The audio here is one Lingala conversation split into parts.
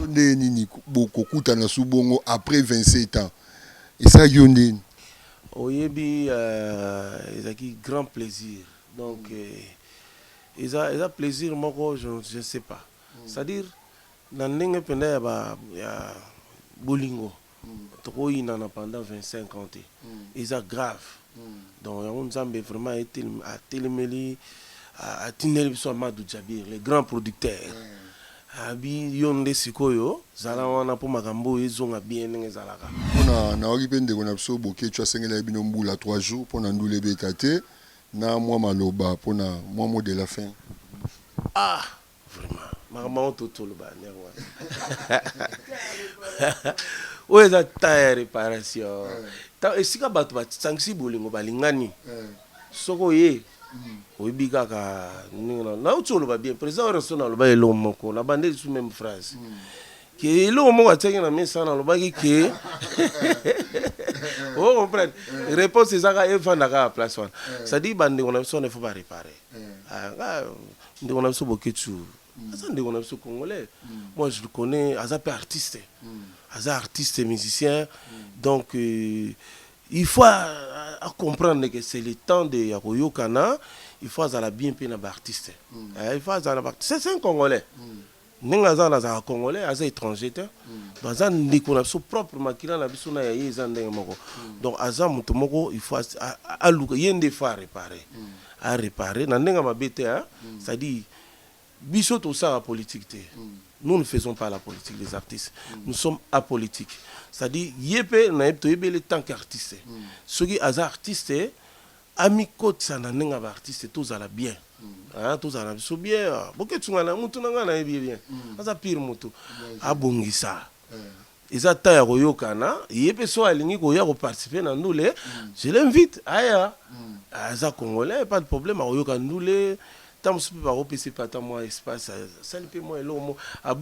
Yo ndenge nini bo ko kutana su bongo après 27 ans esalaki yo ndeni? Oyebi euh ezalaki grand plaisir donc eza eza plaisir moko je ne sais pas c'est à dire na ndenge penza ya ba ya bolingo Toko yinana pendant 25 ans te eza grave donc yango nzambe vraiment atelemeli atindeli biso Amadou Djabir le grand producteur abi yo nde sikoyo zala wana po makambo oyo ezonga bien ndenge ezalaka. Pona nayoki pe ndeko na biso Boketshu asengelaki bino mbula trois jours pona ndule ebeta te na mua maloba pona mua mot de la fin. Ah! Vraiment. Makambo yango to toloba yango yango wana. Oyo eza temps ya reparation. Temps esika bato basangisi bolingo balingani. Soki oye oyebi kaka ndenge na nauti oloba bien président Werrason aloba eloko moko na bande lisusu meme phrase ke eloko moko atiaki na mesa wana alobaki ke o comprendre réponse ezaka efanda kaka place wana c'est-à-dire bandeko na biso wana il faut ba réparer Ah, nga ndeko na biso Boketshu aza ndeko na biso congolais. Moi je le connais, aza pe artiste. Aza artiste musicien. Donc euh, il faut a, a comprendre que c'est le temps de ya koyokana, il faut azala bien pe na ba artistes. Eh, il faut azala na ba artistes. C'est un congolais. Ndenge aza wana azalaka congolais aza etranger te baza ndeko na biso propre makila na biso na ya ye eza ndenge moko donc aza moto moko il faut aluka ye nde faut arepare arepare na ndenge mabe te c'est à dire biso tosala politique te nous ne faisons pas la politique les artistes nous sommes apolitique c'est à dire ye mpe na ye toyebele tant qu'artiste soki aza artiste Amikotisa na ndenge ya ba artistes tozala bien hein tozala na biso bien Boketsu nga na mutu na nga nayebi ye bien aza pire mutu abongisa eza temps ya koyokana ye pe soki alingi koya ko participer na ndule je l'invite aya aza congolais pas de problème akoyoka ndule Tango mosusu mpe bakopesa ye mpe ata mwa espace, asali mpe mwa eloko moko,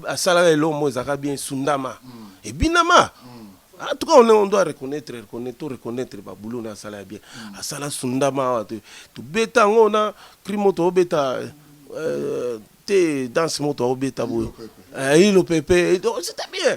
asala kaka eloko moko ezalaka bien esundama, ebinama. En tout cas, on, on doit reconnaître, reconnaître, to reconnaître ba boulot na asala ya bien. Asala sundama awa to tobeta yango na cri moko tobeta euh, te danse moko tobeta boye, eh, ilo pepe, c'était bien.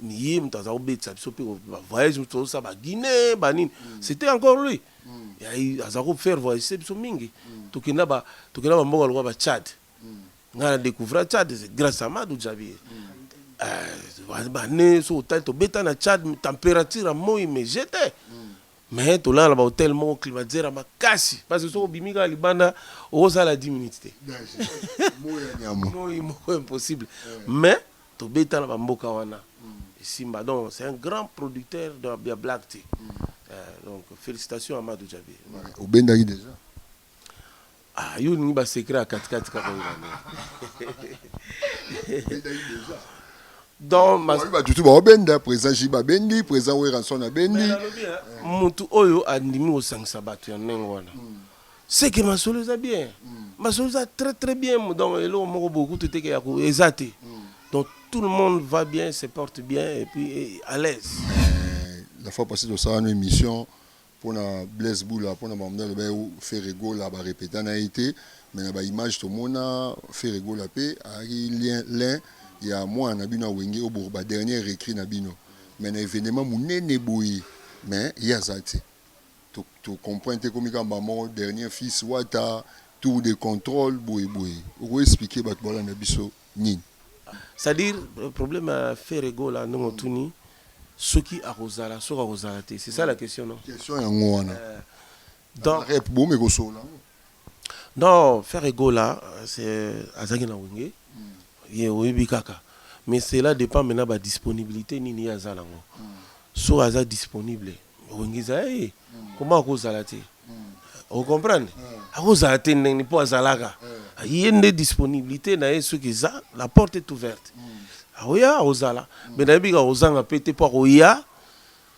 Niye moto aza kobetisa biso mpe ba voyage moto tozosala ba Guinée ba nini mm. c'était encore lui mm. aza ko faire voyage biso mingi mm. tokenda ba tokenda ba mboka lokola ba Tchad mm. ngai na découvrir Tchad c'est grâce à Madou Djabi mm. euh, ba ne so hôtel to beta na Tchad température à moi mais j'étais mm. mais tolala na bahotel moko climatiseur ya makasi parce que soki obimi kaka libanda okosala 10 minutes te moi moko impossible mais Tobeta na ba mboka wana esimba donc c'est un grand producteur donc ya blague te eh donc felicitations à Mado Diaby voilà. Obendaki dejà? Ah yo olingi ba secret ya kati kati kaka oyeba nde. Donc ma. Oyebi batu tout ba obenda president JB abendi president Werrason abendi. Mais nalobi hein mutu oyo andimi kosangisa batu ya ndenge wana C'est que masolo eza bien. Masolo eza très très bien donc eloko moko boye kutu te ke ya ko eza te. Donc tout le monde va bien, se porte bien et puis eh, à l'aise. Eh, la fois passée tosala na émission mpona blaise bula mpona bamda aloba ye ferre gola barepeta na ye te mais na baimage tomona ferre gola mpe ayaki lien lin ya mwana na bino ya wenge obour badernier récrit na bino mais na événement monene boye mais ye aza te To comprendre te ekomi kaka mbala moko dernier fils wata tour de controle boye boye oko expliquer batu balanda biso nini? C'est à dire problème ya Ferre Gola ndenge otuni soki akozala soki akozala te c'est ça la question non? Question yango wana donc boomi kosolola yango. Non ferre gola c'est azalaki na wenge ye oyebi kaka mais cela depend mais na ba disponibilite nini ye aza nango soki aza disponible wenge eza ya ye comment akozala te o comprendre akozala te ndenge mpo azalaka ye nde disponibilite na ye soki eza la porte est ouverte akoya akozala mais nayebi kaka kozanga mpe te mpo akoya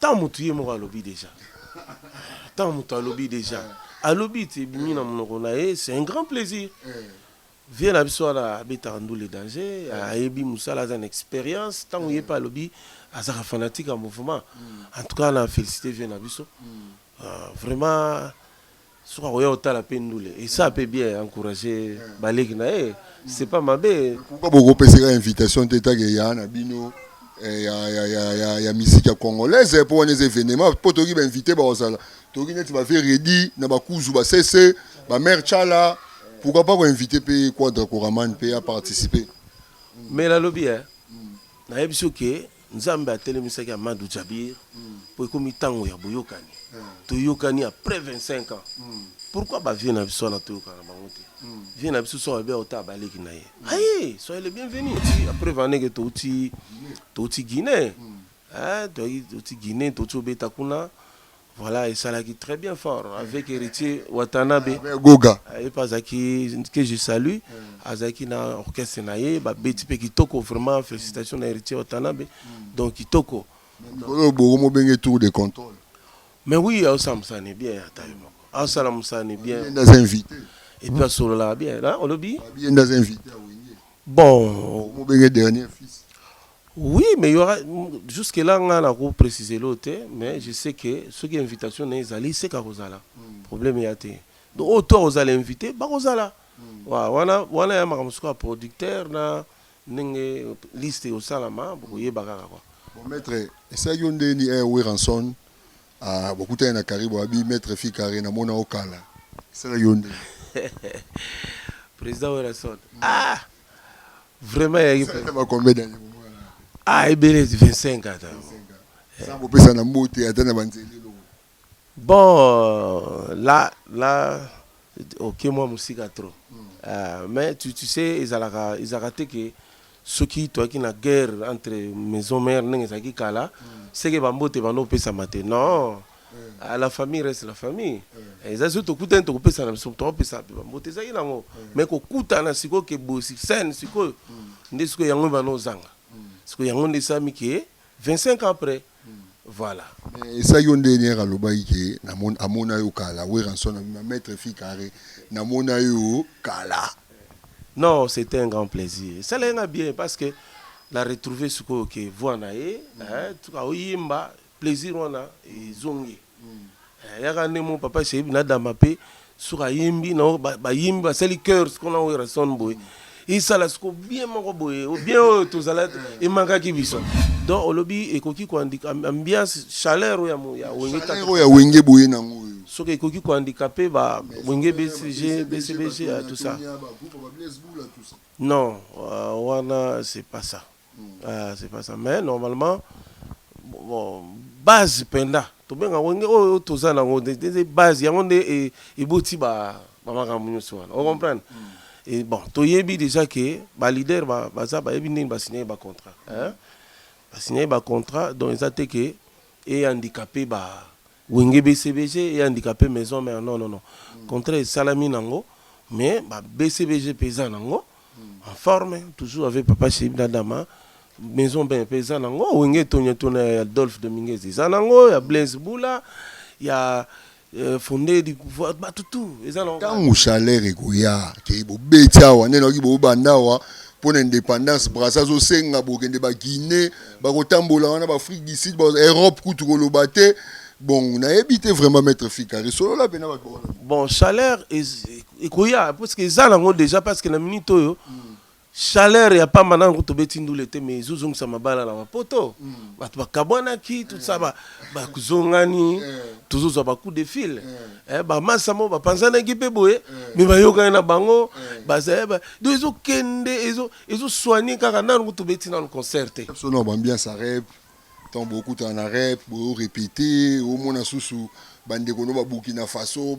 Tant mutu ye moko alobi dejà tant mutu alobi dejà alobi ti ebimi na munoko na ye c'est un grand plaisir vieux na biso wana abetaka ndule danger ayebi musala aza na experience tango ye pe alobi azalaka fanatique ya mouvement en tout cas na felicite vieux na biso vraiment soki akoya kotala mpe ndule esa mpe bien encourage baleki na ye c'est pas mabe pourquoi bokopeseka invitation te take ya na bino eh, ya, ya, ya, ya, ya miziki ya congolaise mpo wana eza evenema mpo toyoki bainvite bakozala toyoki neti baveredi na bakuzu basese bamare chala pourquoi pas koinvite mpe quadra koraman mpe aparticipe mela alobi eh? nayebisi oke Nzambe atelemisaki Amadou Djabir po ekomi tango ya boyokani. Toyokani après 25 ans. Pourquoi ba vieux na biso wana toyokana bango te? Vieux na biso soki alobi akotala ba leki na ye. Aye! Soyez le bienvenu. Ti après va ndenge touti touti Guinee. Hein! Touti Guinee touti kobeta kuna. Voilà esalaki très bien fort avec Heritier Watanabe avec Goga ye mpe azalaki que je salue azalaki na orchestre na ye babeti mpe kitoko vraiment félicitation na Heritier Watanabe donc kitoko mikolo oyo boko mobenge tour de contrôle mais oui aosala mosala ne bien ata yo moko aosala mosala ne bien ye nde aza invité et puis asololaka bien na olobi ye nde aza invité ya wenge bon boko mobenge dernier fils Oui mais il y aura jusque là nga na ko preciser l'eau te mais je sais que ce qui invitation na ezali seka kozala problème ya te donc oyo to kozala invité bakozala wa wana wana ya makambo sikoyo ya producteur na ndenge liste osalama bokoyeba kaka kwa Bon, maître, esalaki yo nde ni eh, Weranson ah, bokutani na Karibo abi maître Fikare na mona okala esalaki yo nde président Werrason ah Vraiment ya Eza ata ba combien d'années bomo wana na pe? Ah ebele 25 ans ata. 25 ans. Sans kopesa na mbote ata na ba nzela elongo. Bon euh, là là oke mwa mosika trop. Euh, mais tu, tu sais ezalaka ezalaka te que soki toyaki na guerre entre maison mère ndenge ezalaki kala seke ba mbote bando opesama te non Ah, la famille reste la famille eh, eza soki tokutani tokopesana biso tokopesana mpe bambote ezalaki nango mai kokutana sikoyo ke boye sene sikoyo nde sikoyo yango ebana ozanga sikoyo yango nde esalami ke 25 ans après voilà esa yo nde niere alobaki ke amona yo kala weranson abima maître fi carré namona yo kala non c'était un grand plaisir esalaki nga bien parce que la retrouver sikoyo ke voi na ye tuka oyimba Plaisir wana ezongi eh, yaka nde mo papa Shaibu na Dama pe soki ayembi na bayembi basali cœurs qu'on a Werrason boye esala siko bien moko boye bien oyo tozala emakaki biso donc olobi ekoki koandika ambiance chaleur oyo ya wenge oyo ya wenge boye nango oyo soki ekoki kohandikape ba wenge bcg bcbg tout ça non euh, wana c'est pas ça Ah c'est pas ça mais normalement bon base penda tobenga yango nge oyo toza na yango nde- nde- nde base yango nde e- eboti ba ba makambo nyonso wana o comprendre Et bon toyebi déjà ke ba leader ba- baza bayebi ndenge basignaki ba contrat hein basignaki ba contrat donc eza te ke e handicapé ba Wenge BCBG et handicape maison mère non non non contrat esalami nango mais ba BCBG pe eza nango en forme toujours avec papa Chib na Dama maison mère pe eza nango Wenge Tonya Tona ya Adolphe Dominguez eza nango ya Blaise Bula ya euh, Fondé du pouvoir batu tout eza nango ntango chaleur ekoya ke bobeti awa nde nayoki bobanda awa pona independance Brazza azo senga bokende ba Guinee bako tambola wana ba Afrique du Sud ba Europe kutu koloba te bon nayebi te vraiment maître Fikari solola pena bato wana bon chaleur ekoya parce que eza nango déjà parce que na minute oyo mm. chaleur ya pamba nango tobeti ndule te mais ezozongisa mabala na mapoto mm. bato bakabwanaki tout ça bakozongani eh. tozozwa bacoup de fil eh. Eh, ba masa mo bapanzanaki mpe boye eh. me bayokani na bango eh. bazali eh, do ezokende ezosoigne kaka nanu kutu beti nanu concert te biso na bambiance ya rep ntango bokutana na rep boyorepete omona susu bandeko no babukina faso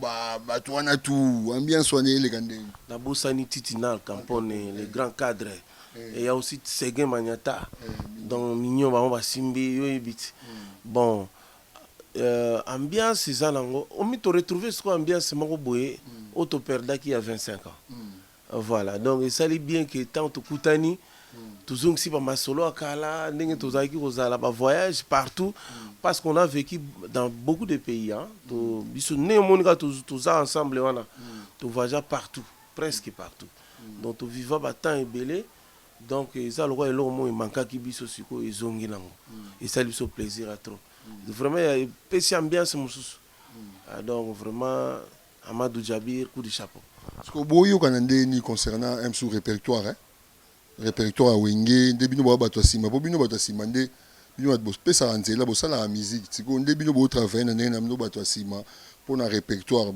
bato wana tu ambiance wana eleka ndenge nabosani titinal campone le grand cadre et ya aussi seguin maniata donc mignon bango basimbi yo oyebi ti bon Euh ambiance eza nango omi to retrouver sikoyo ambiance moko boye oyo to perdaki ya 25 ans voilà donc esali bien que ntango tokutani tozongisi ba masolo ya kala ndenge tozalaki kozala ba voyage partout parce qu'on a vécu dans beaucoup de pays hein to biso ndenge omoni kaka to- toza ensemble wana to voyagea partout presque partout donc to viva ba temps ebele Donc eza lokola eloko moko e mankaki biso sikoyo ezongi nango esali biso plaisir ya trop vraiment ya epesi ambiance mususu donc vraiment Amadou Djabir coup de chapeau. Sikoyo bo yokana ndenge nini concernant MSou repertoire eh? Repertoire ya Wenge nde bino boa batu ya sima po bino batu ya sima nde Bino batu bo pesaka nzela bo salaka musique sikoyo nde bino bo travailler na ndenge na bino batu ya sima pona repertoire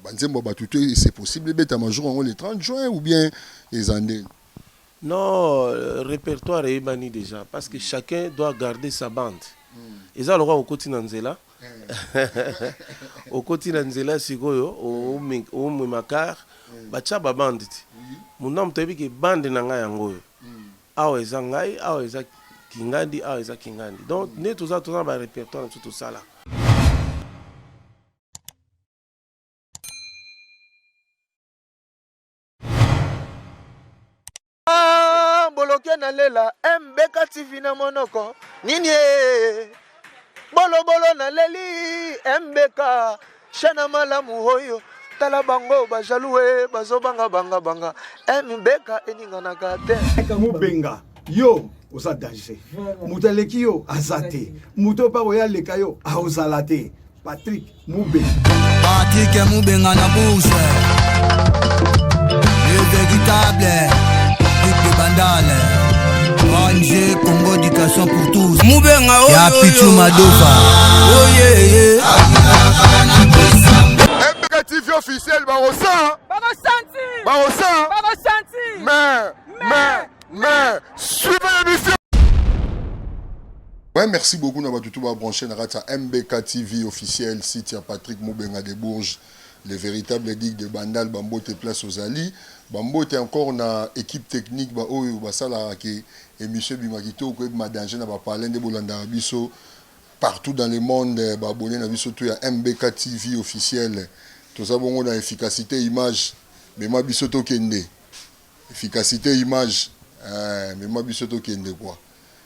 ba nzembo ya batu te c'est possible ebetama jour yango le 30 juin ou bien eza ndeni? Non repertoire eyebani dejà parce que chacun doit garder sa bande eza lokola okoti na nzela okoti na nzela sikoyo omema car batia ba bande ti munamu toyebi ke bande na nga yango oyo Awa eza ngai awa eza kingandi awa eza kingandi donc nde toza toza na ba repertoire na biso tosala. boloke na lela mbeka tv na monoko nini bolobolo na leli mbeka Shana malamu hoyo tala bango ba jaloux eh, bazo banga banga banga mbeka eh, eninganaka te mubenga yo oza danger moto aleki yo aza te moto oyo oya aleka yo aozala te patrik mubenga patrik mubenga na bourse le véritable duc de bandale ong congo éducation pour mubenga ya pichu madova oyeye mpeka tv officiel bakosa bakosa mais mais mais suivez l'émission Ouais, merci beaucoup na batu tout ba branché na kati ya MBK TV officiel site ya Patrick Mubenga de Bourges le véritable digue de Bandal Bambote place aux Ali Bambote encore na équipe technique ba oyo basalaka ke Emission ebima kitoko ebima danger na ba palais nde bolandaka biso partout dans le monde ba abonnes na biso tout ya MBK TV officiel toza bongo na efficacite image mema biso tokende efficacite image eeh mema biso tokende quoi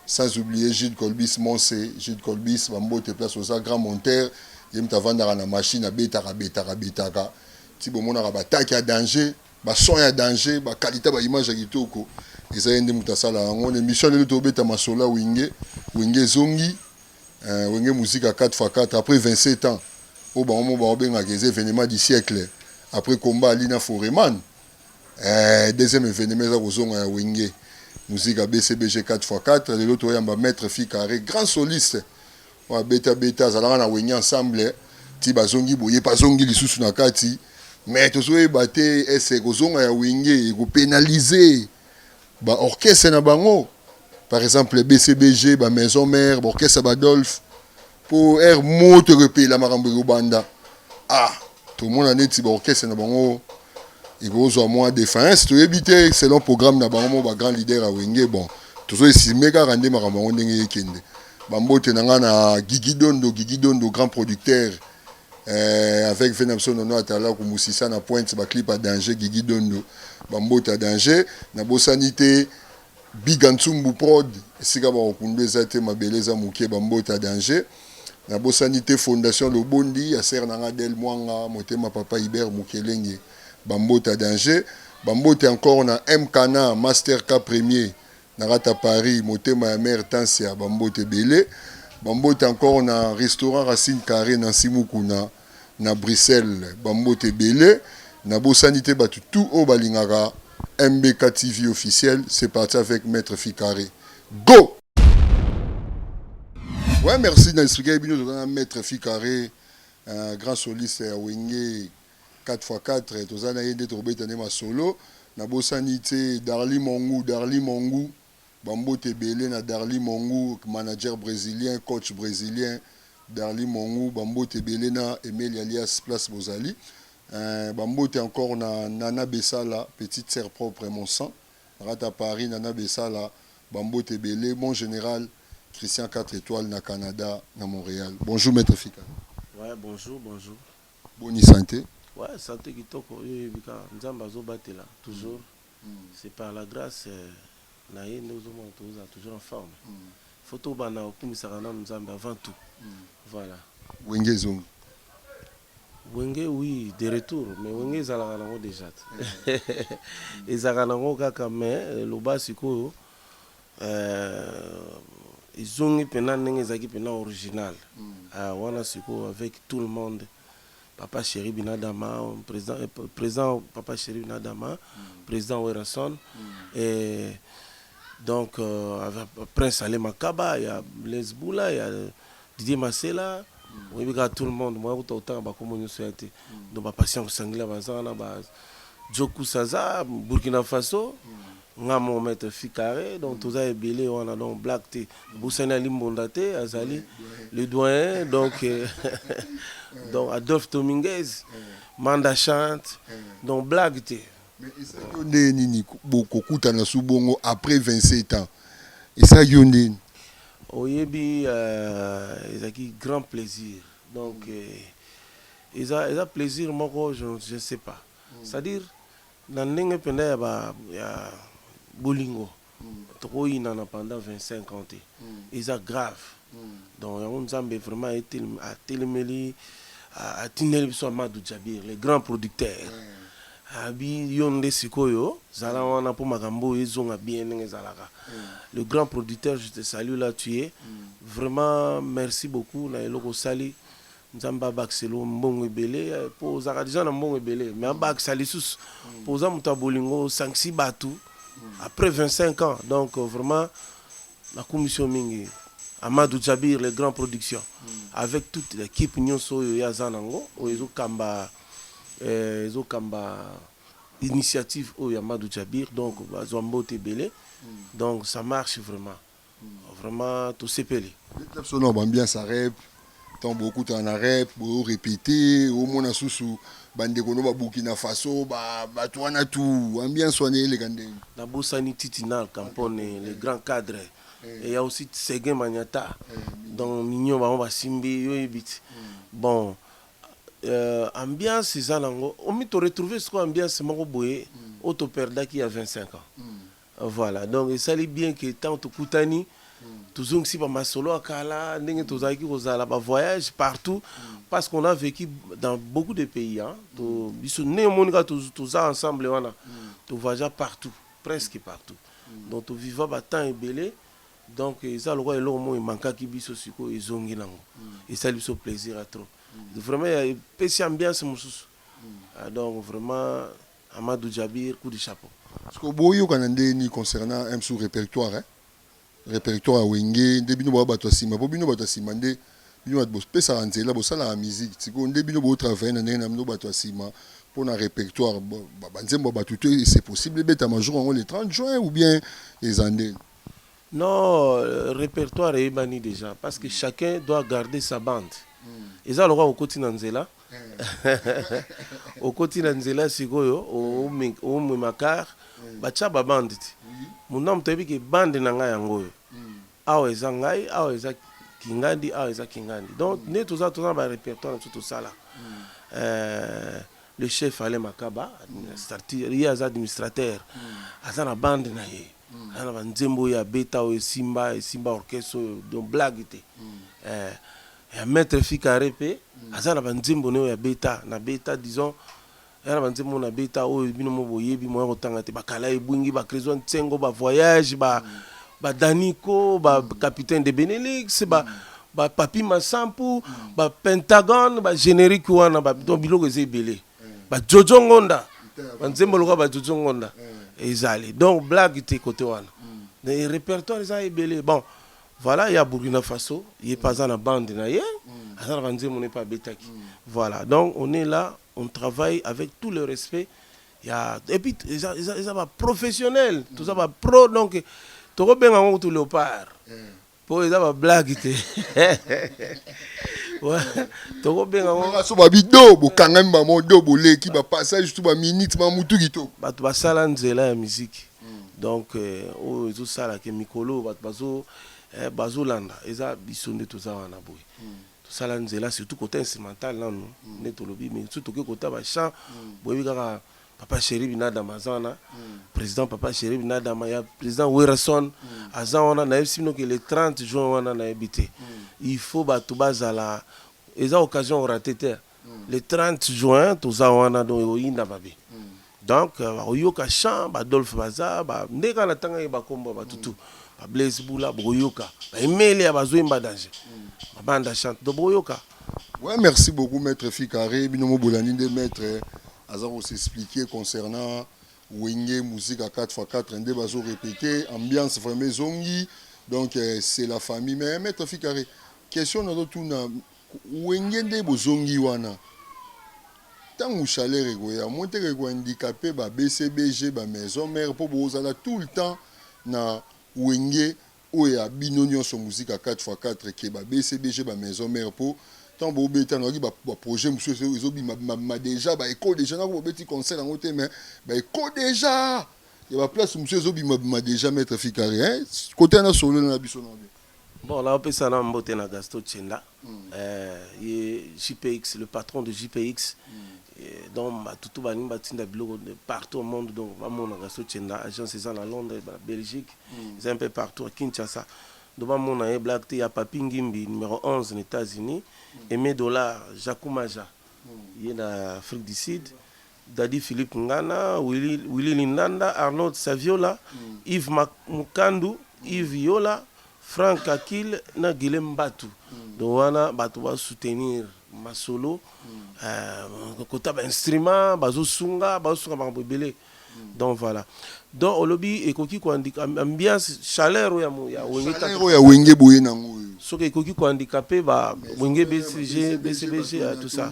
sans oublier Jude Colbis Monse Jude Colbis ba mbote place oza grand monteur ye mutu avandaka na machine abetaka abetaka abetaka ti bomonaka ba attaque ya danger. Ba son ya danger, ba qualite ya ba image ya kitoko eza ye nde mutu asala yango. Na emission ya lelo to beta masolo ya wenge, wenge ezongi eh, wenge musique ya 4 fois 4 après 27 ans oyo bango mo bao bengaka eza evenement du siècle après combat ali na foreman eh, deuxième evenement eza kozonga ya wenge musique ya BCBG 4 fois 4 lelo to yamba maître Fi Carre grand soliste Oyo abeta beta azalaka na wenge ensemble ti bazongi boye pe azongi lisusu na kati mais tozoyeba te est ce que kozonga ya wenge eko penaliser ba orchestres na bango par exemple BCBG ba maison mère ba orchestre ya ba Dolph po heure moto eko epela makambo eko banda ah tomona neti ba orchestres na bango ekozwa mwa defiance toyebi te selon programme na bango moko ba grand leader ya wenge bon tozo esime kaka nde makambo yango ndenge ekende bambote na ngai na gigi dondo gigi dondo grand producteur euh, avec vena biso nono atala kumusisa na pointe baclip ya danger gigi dondo bambote ya danger nabosani te Biga Nsumbu prod esika ba kokunda eza te mabele eza mukie ba mbote ya danger na bosani te fondation lobondi ya sœur na nga del muanga motema papa Hubert mukelenge ba mbote ya danger ba mbote encore na MKna master ka premier na rata Paris motema ya mère Tansia ba mbote ebele ba mbote encore na restaurant racine carre Nancy Mukuna na Bruxelles ba mbote ebele na bosani te batu tout oyo balingaka MBK TV officiel c'est parti avec maitre Ficare go! Ouais merci na expliquer bino toza na maitre Ficare un grand soliste ya Wenge 4x4 toza na ye nde tokobeta nde masolo na bosani te Darly Mongu Darly Mongu Ba mbote ebele na Darly Mongu, manager bresilien, coach bresilien, Darly Mongu, ba mbote ebele na Emeli alias place bozali eeh, ba mbote encore na Nana Besala, petite sœur propre mon sang, naza ata Paris, Nana Besala, ba mbote ebele, mon general Christian quatre etoiles na Canada na Montreal, bonjour maitre Fikana. Ouais bonjour bonjour. Boni sante? Ouais sante kitoko yo oyebi kaka nzambe azo batela toujours. C'est par la grace na ye nde ozo mona tozo zala toujours en forme. Faut to banda ko kumisaka nanu Nzambe avant tout. Voilà. Wenge ezongi? Wenge oui de retour mais wenge ezalaka nango dejà te ezalaka nango kaka mais loba sikoyo ezongi pena ndenge ezalaki pena original wana sikoyo avec tout le monde papa cheri binadama president papa cheri binadama president werrason et donc euh, prince ale makaba ya blaise bula ya didier masela oyebi kaka tout le monde moya kuta kotanga bakombo nyonso ya te donc bapatient kosangila baza wana ba jokusa aza burkina faso Nga moko maitre fi carre donc toza ebele wana donc blague te abosani ali mbonda te azali le doyen donc donc adolphe tominguez manda chante donc blague te Mais esalaki yo ndenge nini ko- bo- kokutana su bongo après 27 ans esalaki yo ndenge nini? oyebi euh, ezalaki grand plaisir donc eh, eza eza plaisir moko je, je ne sais pas c'est à dire Na ndenge penda ya ba ya bolingo toko yinana pendant 25 ans te eza grave donc yango nzambe vraiment a telemeli a tindeli biso Amadou Djabir le grand producteur abi yo nde sikoyo zala wana po makambo oyo ezonga bien ndenge ezalaka le grand producteur je te salue là tu es vraiment merci beaucoup na eloko osali Nzambe abakisela yo mbongo ebele po ozalaka dejà na mbongo ebele mais abakisa lisusu po oza moto ya bolingo osangisi batu après 25 ans donc vraiment nakumisi yo mingi Amadou Djabir le grand production avec toute l'équipe nyonso oyo ye aza nango oyo ezokamba eh, ezokamba initiative oyo ya Amadou Djabir donc bazwa mbote ebele donc ça marche vraiment Vraiment tosepeli. Beta biso nao ba ambiance ya rep ntango bokutana na rep boyo repete omona susu bandeko no babukina faso bato wana tu ambiance wana eleka ndenge nabosani titi na alcampone le grand cadre eh. eya aussi seguin maniata eh, donc mignon bango basimbi yo yebi ti hmm. bon euh, ambiance eza nango omi toretrouve sikoyo ambiance moko boye hmm. oyo toperdaki ya 25 ans hmm. Voilà donc esali bien que tango tokutani tozongisi ba masolo ya kala ndenge tozalaki kozala ba voyage partout parce qu'on a vécu dans beaucoup de pays hein to biso ndenge omoni kaka toz- toza ensemble wana to voyagea partout presque partout donc to viva ba temps ebele donc eza lokola eloko moko emankaki biso sikoyo ezongi nango esali biso plaisir ya trop vraiment ya- epesi ambiance mosusu Ah, donc vraiment Amadou Djabir coup de chapeau. Sikoyo bo yokana ndenge nini concernant un sous repertoire hein? Repertoire ya wenge nde bino boza batu ya sima po bino batu ya sima nde bino batu bo pesaka nzela bo salaka musique sikoyo nde bino bo travailler na ndenge na bino batu ya sima pona repertoire ba nzembo ya batu te c'est possible ebetama jour yango le 30 juin ou bien eza ndeni? Non repertoire eyebani dejà parce que chacun doit garder sa bande eza lokola okoti na nzela okoti na nzela sikoyo omema car batya ba bande ti muna moto ayebi ke bande na ngai yango oyo awa eza ngai awa eza kingandi awa eza kingandi donc nde toza toza na ba repertoire na biso tosala euh, le chef ale makaba administrateur ye aza administrateur aza na bande na ye Aza na ba nzembo oyo abeta oyo esimba esimba orchestre oyo donc blague te eh, ya maitre Fikare pe aza na ba nzembo naye oyo abeta na beta disons aza na ba nzembo oyo na beta oyo bino mo boyebi moya kotanga te ba kala ebwingi ba Creswa Nsengo ba voyage ba ba Danico ba capitaine de Benelux ba ba Papi Masampu ba Pentagone ba generique wana ba donc biloko eza ebele ba jojo ngonda ba nzembo lokola ba jojo ngonda ezali donc blague te kote wana mais répertoire eza ebele bon voilà ya burkina faso ye mpe aza na bande na ye aza na banzembo ne mpe abetaki voilà donc on est là on travaille avec tout le respect ya et puis eza, eza, eza ba professionnel toza ba pro donc tokobenga yango kutu léopard po eza ba blague te tokobenga ngo so ba bido bokangami ba modo boleki ba passage to ba minute ma mutu kitoko bato basala nzela ya miziki hmm. donc euh, oyo ezosala ke mikolo bato bazo eh, bazolanda eza biso nde toza wana boye hmm. tosala nzela surtout kota instrumental nanu hmm. nde tolobi mais soki tokoki kota bachamp boyebi kaka Papa Cheri Binadama aza wana president Papa Cheri Binadama ya president Werrason aza wana nayebisi bino ke le 30 juin wana nayebi te il faut bato bazala eza occasion orate te le 30 juin toza wana donc ekoyinda mabe donc bakoyoka chant ba Adolphe baza ba nde kaka natangaki ba kombo ya bato tout ba Blaise Bula bokoyoka ba Emelia bazoyemba danger mabanda chante donc bokoyoka Ouais, merci beaucoup, Maître Ficaré. Binomo Bolani de Maître Azaro s'expliquer concernant Wenge, musique à 4x4, un débat répété, ambiance vraiment zongi. Donc, euh, c'est la famille. Mais Maître Ficaré, question dans tout na Wenge de Bozongi Wana. Tango chaleur et goya, moi te ko handicapé ba BCBG ba maison mère pour bozala tout le temps na Wenge Oyo ya bino nionso musika 4 fois 4 keba BCBG ba maison mère po tango bo beta nayokaki ba ba projet mususu ezo bima bima bima dejà ba echo dejà nako bo beti concert yango te mais ba echo dejà ya ba place mususu ezo bima bima dejà maitre Fikare hein cote wana solola na biso nao bien. Bon nao pesa nao mbote na Gasto Tshenda Eh ye JPX le patron de JPX donc ba tutu balingi batinda biloko partout au monde donc ba mona Gaston Tshenda agence eza na Londres ba Belgique eza un peu partout à Kinshasa donc ba mona ye blague te ya Papy Ngimbi numero 11 na Etats-Unis Aime Dollar Jacou Maja ye na Afrique du Sud Daddy Philippe Ngana, Willy, Willy Lindanda, Arnold Saviola, Yves Mak- Mukandu, Yves Yola, Frank Akil na Guilhem Mbatu. Donc wana bato ba soutenir masolo euh, kota ba instrument bazosunga bazosunga makambo ebele donc voilà donc olobi ekoki koandika am- ambiance chaleur oyo ya mo- ya wenge Salaire kaka oyo ya wenge boye nango oyo soki ekoki kohandikape ba wenge bcg bcbg euh, tout ça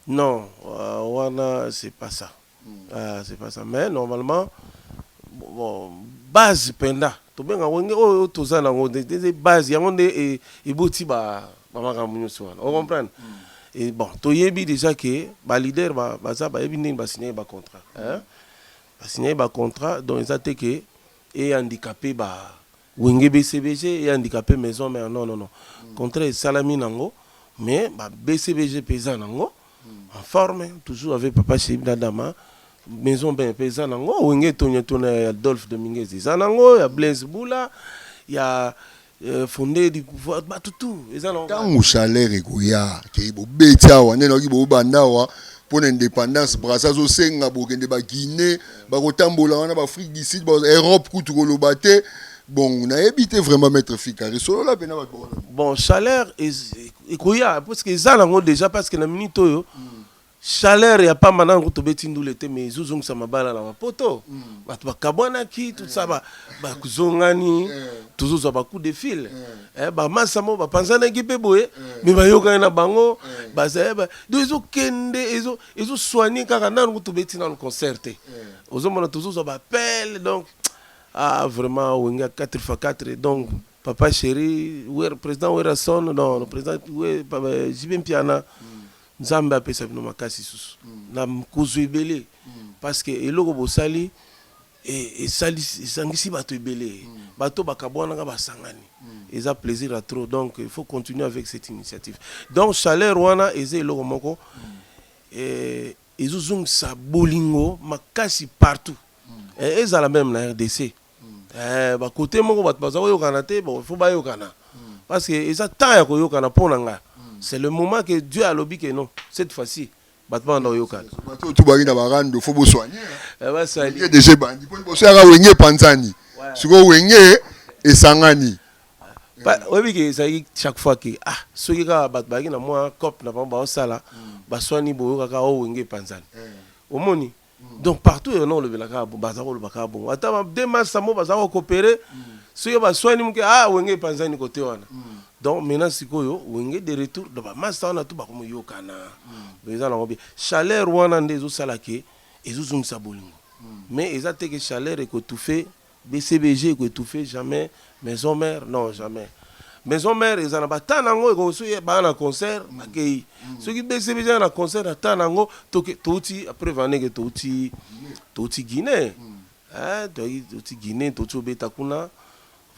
Non wana c'est pas ça c'est pas ça mais normalement base penza tobenga ngo nde oyo toza na ngo nde base yango nde eboti ba makambo nionso wana o comprendre et bon toyebi dejà que ba leader baza bayebi ndenge ba signaki ba contrat ba signaki ba contrat donc eza te que e handicaper ba Wenge BCBG et handicape maison mère non non non contrat esalami nango mais ba BCBG pe eza nango en forme toujours avec papa Chib na Dama maison mère pe eza nango Wenge Tonya Tona ya Adolphe Dominguez eza nango ya Blaise Bula ya euh, Fondé du pouvoir batu tout eza nango ntango chaleur ekoya ke bobeti awa nde nayoki bobanda awa pona independance Brazza azo senga bokende ba Guinee bako tambola wana ba Afrique du Sud ba Europe kutu koloba te bon nayebi te vraiment maître Fikari solola pena bato bawana. Bon chaleur ekoya parce que eza nango dejà parce que na minute oyo mm. chaleur ya pamba nango tobeti ndule te mais ezozongisa mabala na mapoto mm. bato bakabwanaki tout ça eh. bakuzongani eh. tozozwa bacoup de fil eh. Eh, bamasa mo bapanzanaki mpe boye eh. me bayokani na bango eh. baza do ezokende ezoswani kaka nanu kutu beti nanu concert te ozomona tozozwa bapele donc ah vraiment wenge ya 4 fois 4 donc papa chéri wer président werrason non président jibe mpiana mm. nzambe apesa bino makasi susu mm. na kozwa ebele mm. parce que eloko bosali Esalisi esangisi batu ebele batu oyo bakabuanaka basangani eza plaisir ya trop donc il faut continuer avec cette initiative donc chaleur wana eza eloko moko ezo zongisa bolingo makasi partout ezala meme na rdc ba cote moko batu baza koyokana te bon il faut bayokana parce que eza temps ya koyokana pona nga c'est le moment que Dieu alobi que non cette fois ci Bato ba banda ko yokana. Bato oyo tout ba ye na ba rando faut bo soigner hein. Ba sali. Wenge dejà ebandi po liboso eyaka wenge epanzani sikoyo wenge esangani. Oyebi ke ezalaki chaque fois ke ah soki kaka bato bazalaki na mua coop na bango bazo sala ba suani boyoka kaka oh wenge epanzani omoni. donc partout eyo nao lobela kaka bongo baza ko loba kaka bongo ata ba deux mars amo baza ko cooperer soki ba swani muke ah wenge epanzani kote wana donc maintenant sikoyo wenge de retour donc ba masta wana tout bako moyokana donc eza nango bien chaleur wana nde ezo sala ke ezo zongisa bolingo mais eza te ke chaleur eko toufe BCBG eko etouffe jamais maison mère non jamais maison mère eza na ba temps nango eko soki baya na concert bakeyi soki BCBG aya na concert na temps nango toke towuti preuve en est que towuti towuti Guinee hein toyaki towuti Guinee towuti kobeta kuna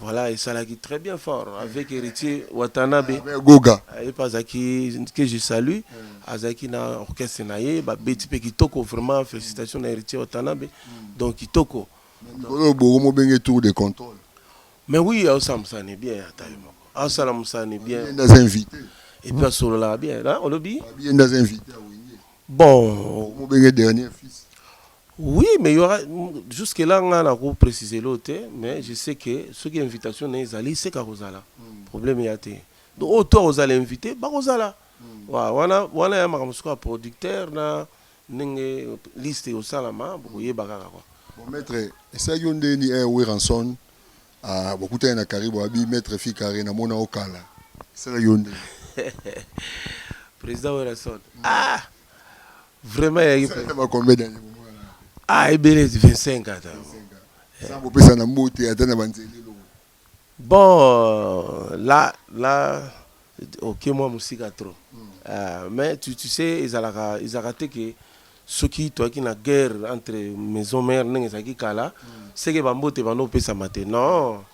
voilà esalaki très bien fort avec Heritier Watanabe Goga ye pe azalaki que je salue azalaki na orchestre na ye babeti pe kitoko vraiment felicitations na Heritier Watanabe donc kitoko Mais mikolo oyo boko mo benge tour de controle. Mais oui azo sala musala ne bien ata ye moko. Azo sala musala ne bien. Yende aza invite. Et puis asololaka bien na olobi. Abi yende aza invite ya wenge. Bon. Boko mo benge dernier fils. Oui mais y'aura jusque là nga na ko precise eloko te mais je sais que soki invitation naye ezali seke ako zala problème eya te. Donc oyo tout ako zala invite bako zala. Wana wana ya makambo sikoyo ya producteur na Ndenge liste ekosalama bokoyeba kaka quoi. Bon maitre esalaki yo ndeni eh werrason bokutani na karibu abi maitre fi carre na mona yo kala esalaki yo ndeni. President werrason ah vraiment eyaki penza. Esalaki na ba combien d'annees bomonana yango. Ah ebele 25 ans ata. 25 ans sans kopesana mbote ata na ba nzela eloko. Bon la la oke mwa mosika trop euh, mais tu, tu sais ezalaka ezalaka te ke soki toyaki na guerre entre maison mère ndenge ezalaki kala seke bambote banda kopesama te non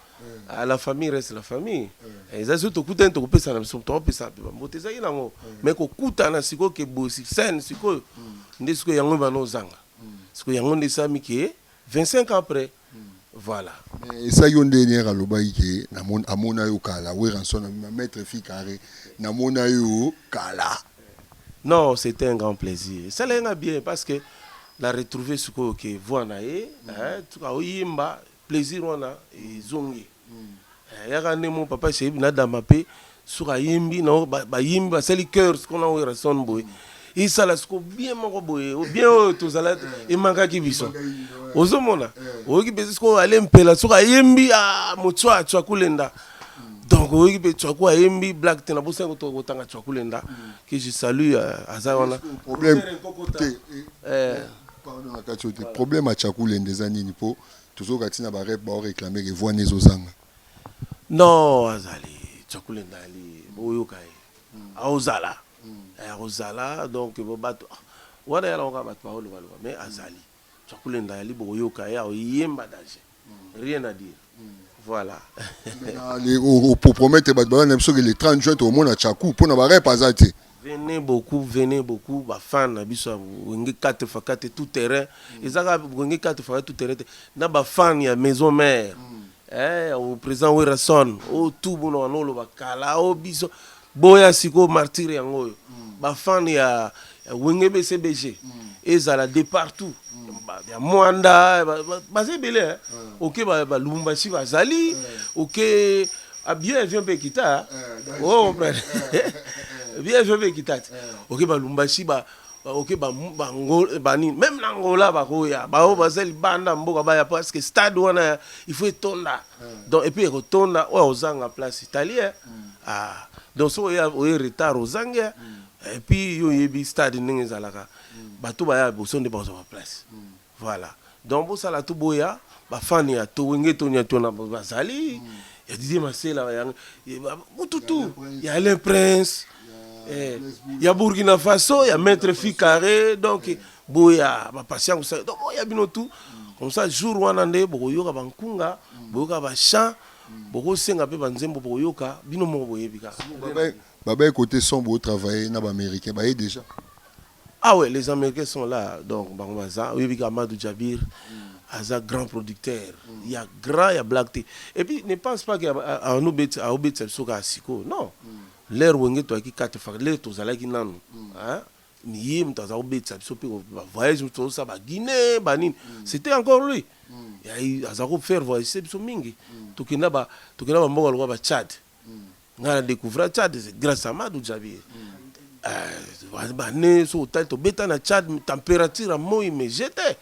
Ah, la famille reste la famille Eh, eza soki tokutani tokopesana biso tokopesana mpe bambote ezalaki nango mais kokutana sikoyo ke boye sur scène sikoyo nde sikoyo yango ebanda ozanga sikoyo yango nde esalami ke 25 ans après Voilà. Mais esa yo nde nier alobaki ke na mon amona yo kala werrason abima maitre fille carre na mona yo kala. Non c'etait un grand plaisir esalaki nga bien parce que na retrouver sikoyo ke voix naye eeh oyemba plaisir wana ezongi. Yaka nde mon papa chez na dama pe soki ayembi na bayembi basali coeur siko na Werrason boye esala siko bien moko boye bien oyo tozala emankaki biso ozomona oyoki mpe siko ale mpela soki ayembi ah, motswa tswakulenda donc oyoki mpe tswaku ayembi black te nabosani kotanga tswakulenda que je salue euh, aza wana problème te eh, eh. pardon na kati oyo te problème ya tswakulenda eza nini mpo Tozoyoka ti na ba rep bao reclamer que voix ne ezo zanga. Non azali chakula endali boyoka ye aozala eh, akozala donc bo bato ah, wana yala oka bato baoloba loba mais azali chakula endali bokoyoka ye aoyemba danger rien à dire voilà Mais na le o o promettre bato balanda biso que le 30 juin tokomona Chaku mpo na ba rep aza te. Venez beaucoup venez beaucoup ba fan na biso ya wenge 4 fa 4 tout terrain eza kaka wenge 4 fa 4 tout terrain te na ba fan ya maison mère eh ya o président Werrason o tout bono wana oloba kala o biso boya sikoyo martyr yango oyo ba fan ya ya wenge BCBG ezala de partout ba- ya Mwanda ba- ba- baza ebele hein. oke ba ba Lubumbashi bazali oke Ah, bio avion mpe ekita eh, o oh, comprendre eh, eh, bio avion mpe ekita te oke balumbashi ba oke banini meme na ngola bakoya baoyo baza libanda mboka baya parce que stade wana il faut etonda donc epuis ekotonda oyo ozanga place italien mm. ah, donc soki oye retard ozangi mm. epuis yo oyebi stade ndenge ezalaka mm. bato baya boso nde bazwa baplace Voilà donc bosala tout boya ba fan ya to wenge to nya to na bazali ya Didier Masela ya tout tout ya Alain Prince eh, ya Burkina Faso ya Maître Fikare donc boya ba patient ça donc boya bino tout comme ça jour wana nde bokoyoka ba nkunga boyoka ba chant bokosenga mpe ba nzembo bokoyoka bino moko boyebi kaka. Baba ye côté son bo travailler na ba américain baye déjà. Ah ouais les americains sont là donc bango baza oyebi ka Amadou Djabir aza grand producteur ya grand ya blague te et puis ne pense pas que anobetisa aobetisa biso kaka sikoyo non l'heure wenge toyaki kate faka l'heure tozalaki nanu hein ye moto aza kobetisa biso mpe bavoyage moto tozosala baguine banini c'était encore lui aza kofaire voyagise biso mingi tokenda bamboka lokola bachade nga na découvra Tchad grâce à Madou Djabir euh, bane so otali tobeta na Tchad température ya moi mais j'étais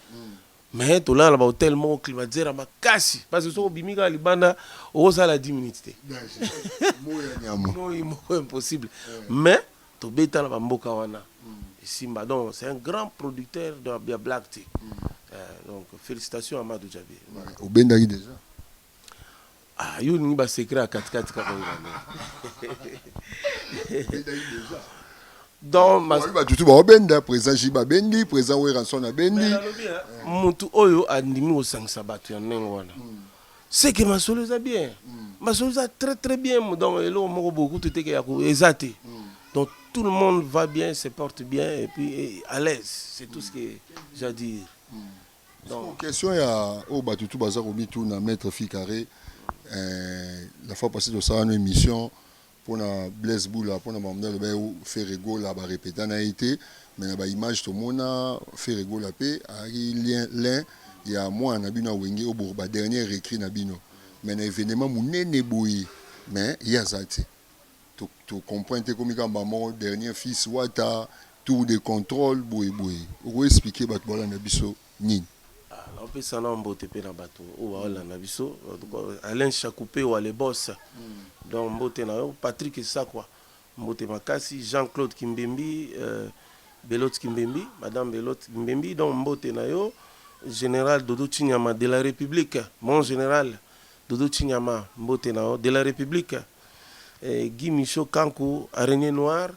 mais tolala na bahotel moko climatiseur ya makasi parce que soki obimi kaka libanda okosala 10 minutes te moi moko impossible mais tobeta na bamboka wana esimba mm. donc c'est un grand producteur ya black te mm. euh, donc félicitations à Madou Djabir obendaki déjà Ah, yo olingi ba secret ya katikati kaka ngana donc mas- bato tu baobenda président ji babendi président weranson abendi Mais nalobi, hein, mutu oyo andimi kosangisa bato ya ndenge wana seke masolo eza bien masolo eza très très bien donc eloko moko bokutu teke ya ko- eza te donc tout le monde va bien se porte bien et puis eh, à l'aise c'est tout ce que j'ai à dire Donc question ya oyo batu tout baza komituna maitre fille carre eh, la fois passée tosala no émission pona Blaise Bula pona makambo nde aloba Ferre Gola ba répéta na ye te mais na ba image tomona Ferre Gola pe ayaki lien lin ya mwana na bino ya wenge oyo ba dernier recrue na bino mais na evenement munene boye mais ye aza te To comprendre te ekomi kaka mbala moko dernier fils wata tour de controle boye boye oko expliquer batu bao landa biso nini? Nao pesa nao mbote pe na batu oyo bao landa biso Alain Shakupewa le boss donc mbote na yo Patrick Sakwa mbote makasi Jean Claude Kimbembi Belote Kimbembi madame Belote Kimbembi donc mbote na yo General Dodo Tshinyama de la Republique mon general Dodo Tshinyama mbote na yo de la Republique Guy Michaux Kanku, Araignee Noire,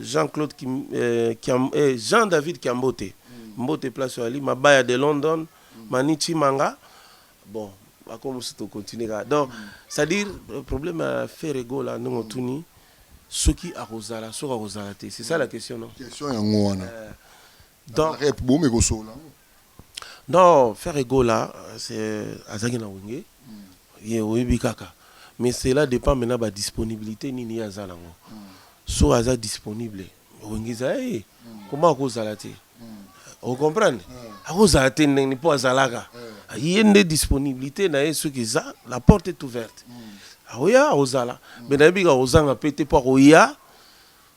Jean Claude Kim, Kiam, Jean David Kiambote, Mbote place Ali, Mabaya de London, Mani Chimanga, bon, bako musu to continuer ka. Donc, c'est-à-dire problème ya Ferre Gola ndenge otuni soki akozala soki akozala te, c'est ça la question non? Question yango wana. Donc rep bomi kosolola yango. Non ferre gola azalaki na wenge ye oyebi kaka mais cela depend maintenant ba disponibilite nini ye aza nango so aza disponible wenge eza ya ye comment akozala te o comprendre akozala te ndenge nini mpo azalaka ye nde disponibilite na ye soki eza la porte est ouverte akoya akozala mais nayebi kaka kozanga mpe te mpo akoya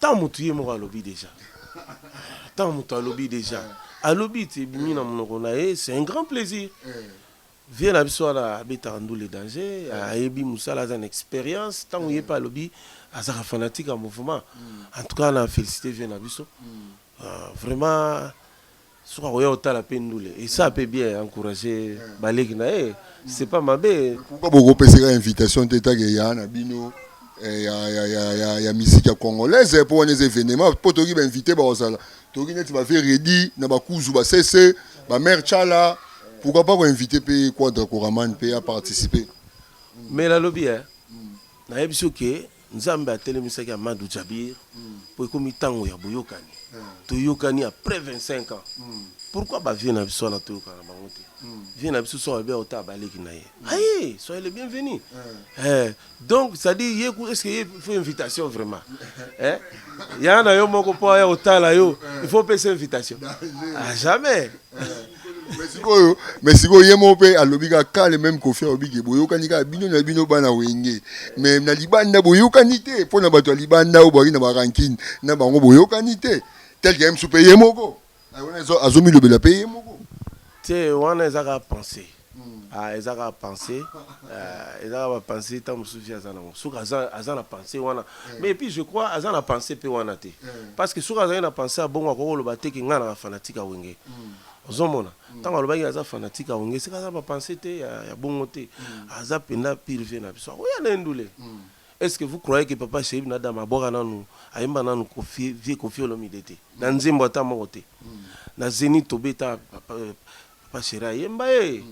Tant mutu ye moko alobi dejà tant mutu alobi dejà alobi ti ebimi na munoko na ye c'est un grand plaisir vieux na biso wana abetaka ndule danger ayebi musala aza na experience tango ye pe alobi azaka fanatique ya mouvement en tout cas na felicite vieux na biso vraiment Soki akoya kotala pe ndule esa pe bien encourager ba leki na ye c'est pas mabe. Pourquoi boko peseka invitation te ta ke ya na bino ya ya ya ya ya musique ya congolaise po wana eza evenement po toki ba invite bako zala toki neti ba vieux Reddy na ba kuzu ba sese ba mère tshala pourquoi pas ko invite pe quadra koraman pe a participer. Mais na lobi hein na yebisi yo ke Nzambe atelemisaki Amadou Djabir po ekomi tango ya boyokani. Toyokani après 25 ans. Pourquoi ba vieux na biso wana toyokana na bango te? Vieux na biso soki alobi akotala ba leki na ye. Aye! Soyez le bienvenu. Eh! Donc c'est à dire ye kutu est-ce que ye il faut invitation vraiment? Eh! Yaya na yo moko po aya kotala yo il faut opesa invitation? Ah jamais! mais sikoyo mais sikoyo ye moko mpe alobi kaka kale meme kofi alobi ke boyokani kaka bino na bino bana wenge mais na libanda boyokani te mpo na bato ya libanda oyo bwaki na barankine na bango boyokani te tel ke msu mpe ye moko wana azomilobela mpe ye moko te wana eza kaka pensee Ah eza kaka pensee euh, eza kaka ba pensee ntango mosusu vie aza nango soki aza, aza na pensee wana mm. mais puis je crois aza na pensee mpe wana te mm. parce que soki azalaki na pensee ya bongo akoki koloba te ke ngai naka fanatique ya wenge mm. ozomona mm. ntango mm. alobaki aza fanatique ya wenge sika aza na bapensee te ya, ya bongo te mm. aza mpenza pire vie na biso akoya na endule mm. est ce que vous croyez que papa sheib na dama abwaka nanu ayemba nanu vie kofi olomide te na nzembo ata moko te mm. na zeni tobeta papa, euh, Papa Cheri ayemba ye,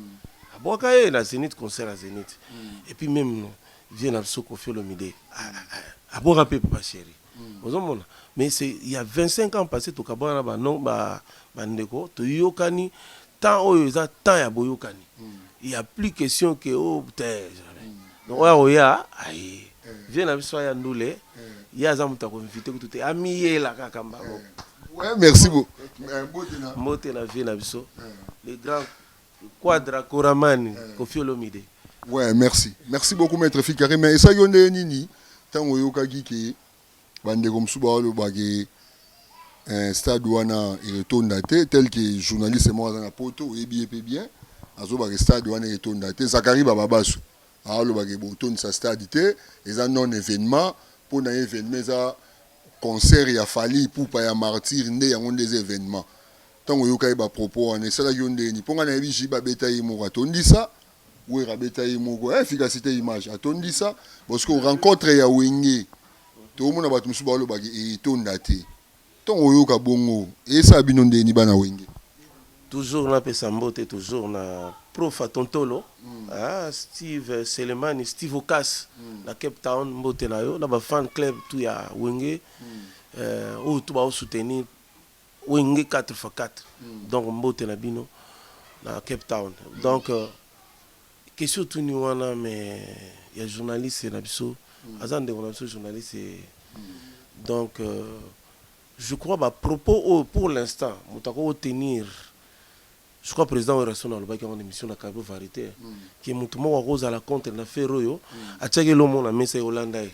abwaka ye na Zenith, concert ya Zenith. Et puis meme vieux na biso Koffi Olomide, abwaka mpe Papa Cheri. Ozo mona? Mais c'est il y a 25 ans passe tokabwana na ba non ba ba ndeko, toyokani temps oyo eza temps ya boyokani. Il y a plus question que oh tee jamais. Donc oyo akoya aye. Vieux na biso aya ndule, ye aza moto ya ko inviter kutu te, amiyela kaka mbango. Ouais, merci beaucoup. Eh, mbote na. Mbote na vie na biso. Le grand Quadra Koramani, Koffi Olomide. Ouais, merci. Merci beaucoup maître Fikare, mais esa yo nde nini tango yokaki ke bandeko mosusu baoloba ke eh, stade wana etonda te tel que journaliste moko aza na poto oyebi ye mpe bien azoloba ke stade wana etonda te zakari bababasu aoloba ke botondisa stade te eza non événement mpo na ye événement eza Concert ya Fally Ipupa ya martyrs nde yango nde eza evenement? Tango oyokaki ba propos wana esalaki yo ndeni? Po nga nayebi JB abeta ye moko atondisa, Werra abeta ye moko eh efficacite image atondisa bon sikoyo rencontre ya Wenge tomona batu mosusu baoloba ke etonda te. Tango oyoka bongo esala bino ndeni bana Wenge? Toujours na pesa mbote toujours na prof Atontolo ah Steve Selemani Steve Okas na Cape Town mbote na yo na ba fan club tout ya Wenge euh oyo tout ba soutenir Wenge 4 fois 4 donc mbote na bino na Cape Town donc question otuni wana mais ya journaliste na biso aza ndeko na biso journaliste donc euh Je crois ba propos oyo pour l'instant moto akoki ko tenir, je crois president Werrason alobaki yango na emission na Carbeau Varite que moto moko ako zala contre na ferre oyo atiaki eloko moko na mesa yo olanda ye.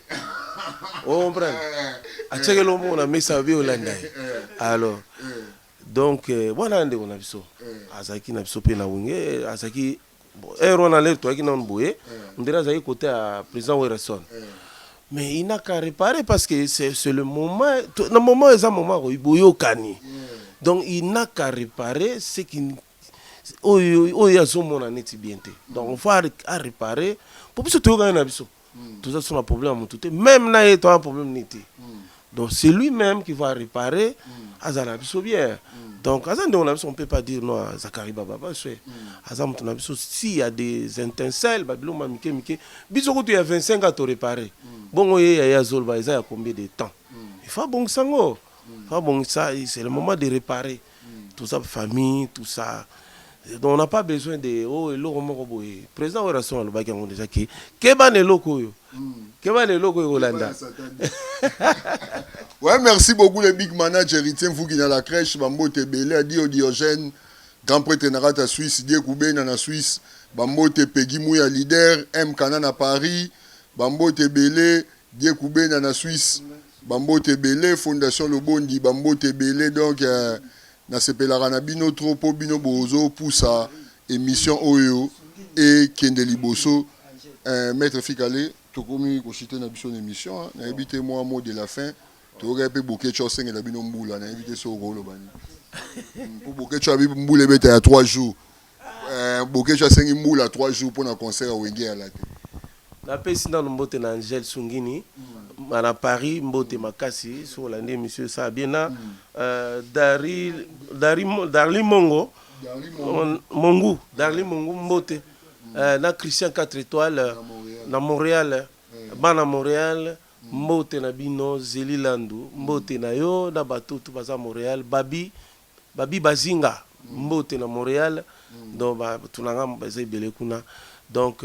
O comprendre? Atiaki eloko moko na mesa yo olanda ye. Alors donc wana ndeko na biso azalaki na biso pe na wenge azalaki heure wana lere toyaki nanu boye eh. ondire azalaki kote ya président werrason eh. mais il n'a qu'à réparer parce que c'est le moment na moment eza moment koyi boyokani eh. donc il n'a qu'à réparer ce qui oyo oyo azomona neti bien te donc faut a réparer po biso toyokani na biso mm. toza biso na problème ya motu te meme na ye toza na problème nini te mm. donc c'est lui même qui va réparer mm. aza na biso bien mm. donc aza ndeko na biso on peut pas dire non zakari bababa swe mm. aza motu na biso si ya des intensel babiloko ma mike mike biso kutu ya 25 a to réparer mm. bongo ye ya ye azoloba eza ya combien de temps mm. il faut abongisa yango mm. faut abongisa c'est le moment de réparer mm. tout ça famille tout ça donc on n'a pas besoin de oh eloko moko boye président Werrason alobaki yango déjà ke keba na eloko oyo keba na eloko oyo kolanda Ouais, merci beaucoup le big manager héritier Mvugi na la crèche bambote ebele adio Diogène grand prêtre na kata Suisse die kubena na Suisse bambote Peggy Muya leader M Kana na Paris bambote ebele die kubena na Suisse Ba mbote ebele fondation lobondi ba mbote ebele donc na sepelaka na bino trop po bino bozo pusa emission oyo ekende liboso eh maitre fikale tokomi ko chute na biso na emission na yebi te mua mot de la fin toyokaki pe boketshu asengela bino mbula na yebi te soki okoloba nini po boketshu abi mbula ebeta ya trois jours Eh, Boketshu asengi mbula 3 jours mpo na concert ya Wenge ya Late. Napesi nanu mbote na Angel Sungini ma na Paris mbote makasi soki olandi emission esala bien na euh, Dari Dari Mo- Darly Mongo Mon- Mongu Darly Mongu mbote Euh, na Christian 4 étoiles euh, na Montréal bana Montréal mbote na bino Zeli Landu mbote na yo na batutu baza Montréal Babi Babi Bazinga mbote na Montreal donc ba tu na nga baza ebele kuna donc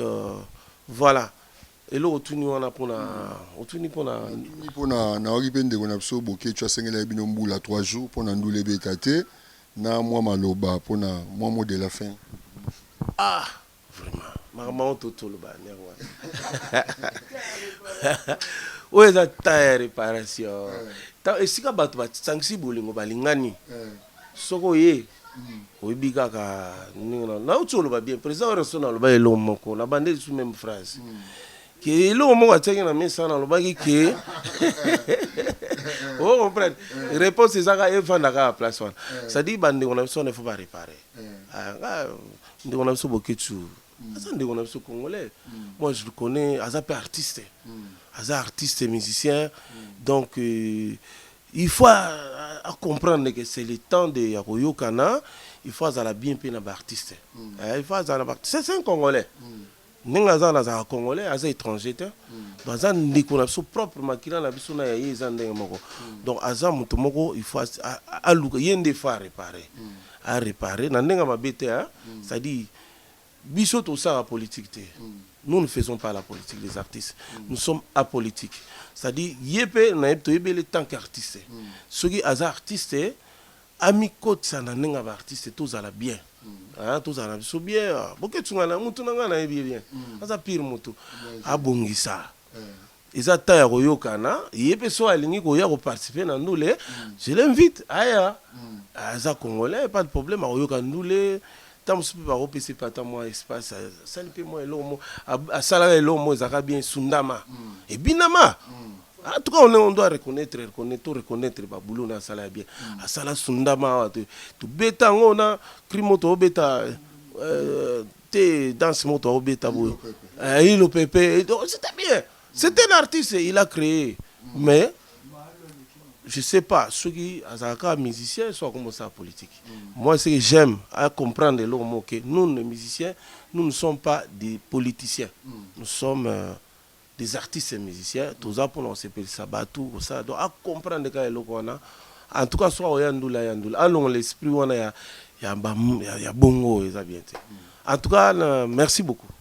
voilà eloko otuni wana pona otuni pona Natuni pona nayoki pe ndeko na biso Boketshu asengelaki bino mbula trois jours pona ndule ebeta te na mua maloba pona mua mot de la fin. Ah! Vraiment makambo yango to toloba yango yango wana oyo eza temps ya réparation temps esika bato basangisi bolingo balingani soki oye oyebi kaka ndenge na nauti oloba bien président werrason aloba eloko moko na bande lisusu meme phrase ke eloko moko atiaki na mesa wana alobaki ke o comprendre réponse ezaka efandaka ya place wana c'est à dire bandeko na biso wana il faut ba réparer Ah, nga ndeko na biso Boketshu aza ndeko na biso congolais. Moi je le connais, aza pe artiste. Aza artiste musicien. Donc euh, il faut a, a comprendre que c'est le temps de ya koyokana, il faut azala bien pe na ba artistes. Eh, il faut azala na ba artistes. C'est un congolais. Ndenge aza wana azalaka congolais aza etranger te baza ndeko na biso propre makila na biso na ya ye eza ndenge moko donc aza moto moko il faut aluka ye nde faut arepare arepare na ndenge mabe te c'est à dire biso tosala politique te nous ne faisons pas la politique les artistes nous sommes apolitique c'est à dire ye mpe na ye toyebele tant qu'artiste soki aza artiste Amikotisa na ndenge ya ba artistes tozala bien hein tozala na biso bien Boketsu nga na mutu na nga nayebi ye bien aza pire mutu abongisa eza temps ya koyokana ye pe soki alingi koya ko participer na ndule je l'invite aya aza congolais pas de problème akoyoka ndule Tango mosusu mpe bakopesa ye mpe ata mwa espace, asali mpe mwa eloko moko, asala kaka eloko moko ezalaka bien esundama, ebinama. En tout cas, on, on doit reconnaître, reconnaître, to reconnaître ba boulot na asala ya bien. Asala sundama awa to tobeta yango na cri moko tobeta euh, te danse moko tobeta boye. Ilo pepe. Ilo pepe, c'était bien. C'est un artiste, il a cree mais je sais pas soki azalaka kaka musicien so akoma osala politique moi ce que j'aime à comprendre eloko moko ke nous les musiciens nous ne sommes pas des politiciens nous sommes euh, des artistes et musiciens toza mpona kosepelisa bato kosala donc à comprendre kaka eloko wana en tout cas soki akoya ndula ya ndula alongola esprit wana ya, ya, ba- ya, ya bongo oyo eza bien te en tout cas na- merci beaucoup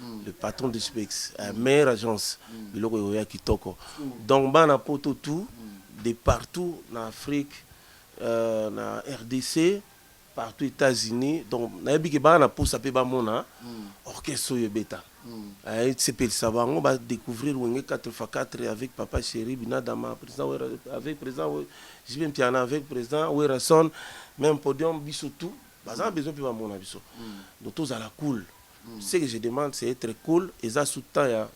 mm. le patron du spex mm. euh, meilleure agence mm. biloko oyo ya kitoko mm. donc bana poto tout mm. de partout na afrique euh, na rdc partout états-unis donc nayebi ke bana na posa mpe bamona mm. orchestre oyo ebeta mm. euh, esepelisa bango badécouvrir wenge 4 fa 4 avec papa chéri binadama président wera, avec président jibe mpiana avec président werason même podium biso tout baza na besoin mpe bamona biso mm. donc tozala cool Ce que je demande c'est etre cool eza sous temps ya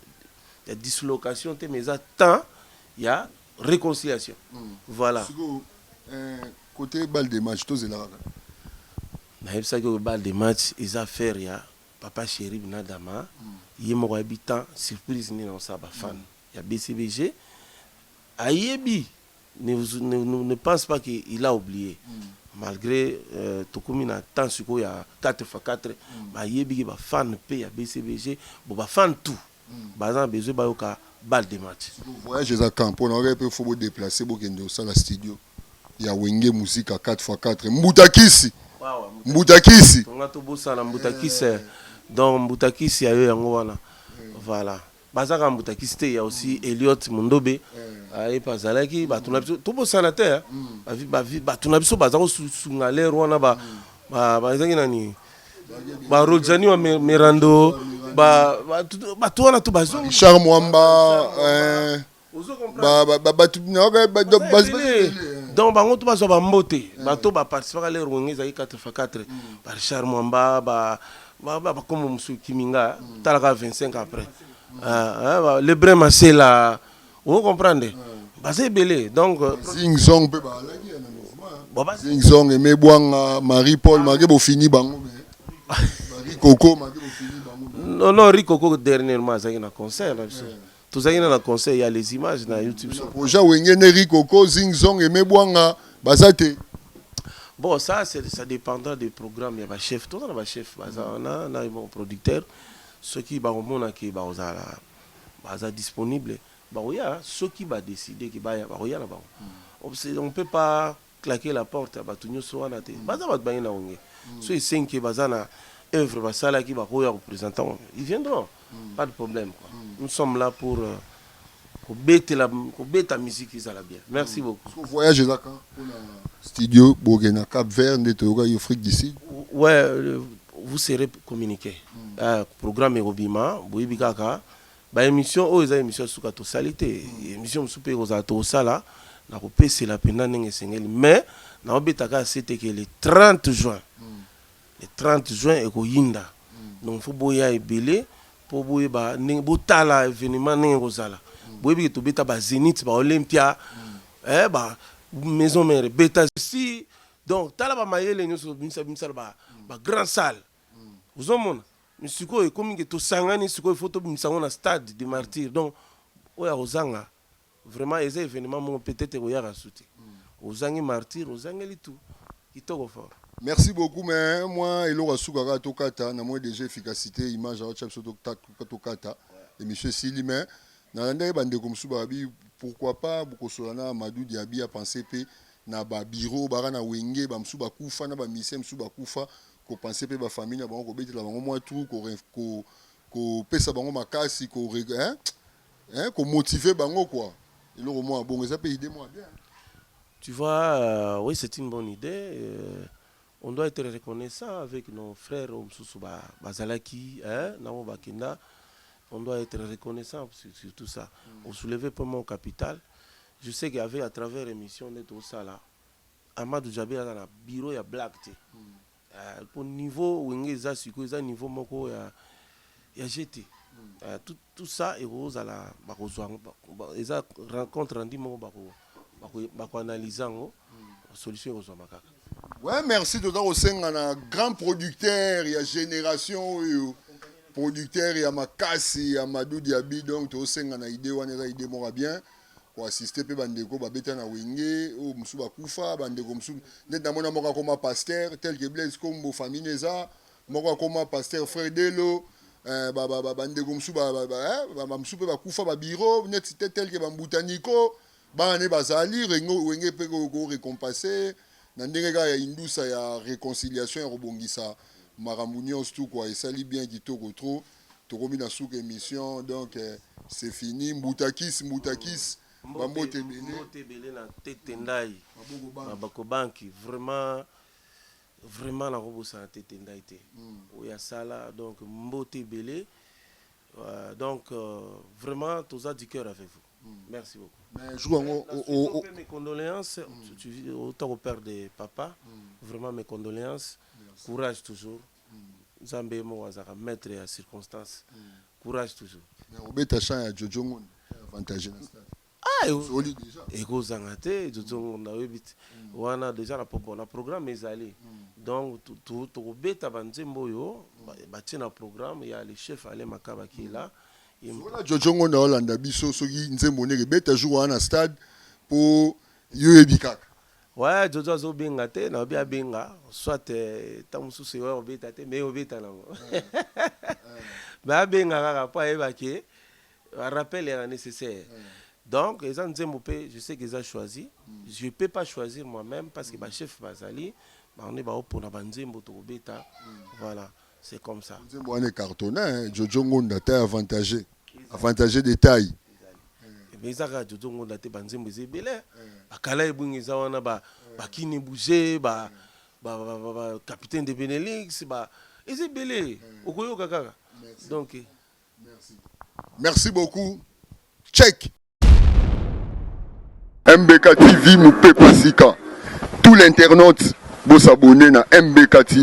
ya dislocation te mais eza temps ya reconciliation voilà sikoyo eh, kote balle de match tozela kaka nayebisaki oyo balle de match eza affaire ya papa sherib na dama ye moko ayebi temps surprise nini aosala bafan ya bcbg ayebi ne pense pas que il a oublie malgre tokomi na temps sikoyo ya 4 fois 4 bayebi ke ba fan pe ya BCBG bo ba fan tout baza na besoin bayoka balle de match. Voyage eza quand pona oyo pe faut bo deplacer bokende kosala studio ya wenge musica 4 fois 4 mbuta kisi mbuta kisi. Tonga tobosana mbuta kisi donc mbuta kisi ya yo yango wana voilà. Baza kaka mbutakisi te, il ya aussi Eliot Mundobe ye pe azalaki batu na biso tobosana te hein, batu na biso baza kosunga l'heure wana ba bazalaki nani ba Rodzani wa Mirando ba batu wana tout ba Richard Mwamba eh. donc bango to bazwa bambote eh. bato baparticipaka lere wenge ezalaki 4 fa 4 barichard mwamba bakombo mosusu kiminga mm. talaka 25 après ah, ah, le brin masela o comprendre baza ebele donc euh, zingzong mpe baalaki ya na mouvement zingzong eme bwanga marie paul ah. make bofini bango marie coco make bofini bango non non ricoco dernièrement azalaki na concert na biso eh. Tozangi na na conseil ya les images na YouTube. Sur projet Wenge ne Rikoko Zing Zong Aimé Bwanga baza te. Bon ça c'est ça dépendra des programmes ya ba chef. Toza na ba chef baza wana na ba producteur soki ba komona ke ba kozala baza disponible ba koya soki ba décider ke baya ba koya na bango. On peut pas claquer la porte ya batu nioso wana te baza batu baye na wenge soki esengi que baza na oeuvre basalaki bakoki koya ko presenter yango ils viendront pas de problème quoi nous sommes là pour kobetela kobeta musique ezala bien merci beaucoup Parce que voyage eza quand pona studio boke na Cap Vert nde toyoka yo Afrique du Sud ouais euh, vous serez communiqué euh, programme ekobima boyebi kaka Ba emission oyo eza emission ya suka tosali te emission mosusu pe ekozala tokosala na kopesela mpenza ndenge esengeli mais naobeta kaka sete ke le 30 juin le 30 juin ekoyinda donc il faut boya ebele mpo boyeba ndenge botala evenement ndenge ekozala boyebi ke tobeta ba zenith ba olympia eh ba maison mère ebeta si donc tala ba mayele nyonso tobimisa bimisala ba ba grand salle ozomona Mais sikoyo ekomi ke tosangani sikoyo il faut tobimisa yango na stade de martyrs donc oyo akozanga vraiment eza evenement moko peut être ekoyaka su te ozangi martyrs ozangeli tout kitoko fort Merci beaucoup mais mwa eloko ya suka kaka tokata na moni dejà efficacite image aotya biso totak- tokata emission esili mais nalandaki ba ndeko mosusu balobi pourquoi pas bokosolola na Amadou Diaby apense pe na ba bureau oyo baka na wenge ba mosusu bakufa na ba musicien mosusu bakufa ko penser pe ba famille na bango ko betela bango mwa trou ko ko kopesa bango makasi ko hein hein ko motiver bango quoi eloko mwa bongo eza pe idée mwa bien Tu vois, euh, oui, c'est une bonne idée. Euh, on doit être reconnaissant avec nos frères au Msusu ba, Bazalaki, hein, Namo Bakenda. On doit être reconnaissant sur, sur tout ça. On soulevait pas mon capital. Je sais qu'avec à travers l'émission, on est au Sala. Amadou Djabel aza na bureau ya blague te eh, po niveau wenge eza sikoyo eza niveau moko ya ya jeu te eh, tout, tout ça ekozala bakozwa eza rencontre rendu moko bako bako bakoanalyse yango solution ekozwama kaka. Ouais, merci toza kosenga na grand producteur ya génération oyo producteur ya makasi ya Madou Diaby donc tosenga na idée wana eza idée moko ya bien ko assister pe ba ndeko ba beta na wenge oyo mususu ba kufa ba ndeko mususu net na mona moko akoma pasteur tel que Blaise Kombo famille neza moko akoma pasteur frère Delo eh, ba ba ba ndeko mususu ba ba ba, eh, ba, ba mususu pe ba kufa ba bureau net tel que ba mbuta Nico bana ne bazali rengo wenge pe ko, ko récompenser na ndenge kaka ya indusa ya reconciliation ya kobongisa makambo nyonso tu kwa esali bien kitoko trop tokomi na suka emission donc euh, c'est fini mbutakis mbutakis bambote ebele na tete ndai maboko banki vraiment vraiment nakobosana tete ndai te hmm. oyo asala donc mbote ebele euh, donc euh, vraiment toza du cœur avec vous hmm. merci beaucoup mais jour yango oh, oh, oh. mes condoléances hmm. autant au père de papa vraiment mes condoléances courage toujours Nzambe ye moko azalaka maitre ya circonstance courage toujours. Mais obeta chant ya Jojo Ngonda eza avantage na stade. Ah eko zanga te Jojo Ngonda oyebi te wana dejà na popo na programme ezali donc toko beta ba nzembo oyo ba tie na programme ya le chef Alain Makaba qui est là. Sokola Jojo Ngonda olanda biso soki nzembo neke beta jour wana na stade po yo oyebi kaka. Ouais Jojo azo benga te na obi abenga soit tant mususu yo obeta te mais obeta nango mais abenga kaka po ayeba ke rappel ya nécessaire donc eza nzembo pe je sais que eza choisi je peux pas choisir moi-même parce que ba chef bazali bango nde baopona ba nzembo tokobeta voilà c'est comme ça nzembo wana ecartona hein? jojo ngonda taille avantage avantage de taille mais eza kaka jojo ngonda te banzembo eza ebele hein? bakala ebwingi eza wana ba bakini bouge ba ba, ba, ba, ba capitaine de benelix ba eza ebele okoyoka kaka donc merci merci beaucoup check MBK TV Mupepa Sika. Tout l'internaute, vous s'abonnez à MBK TV.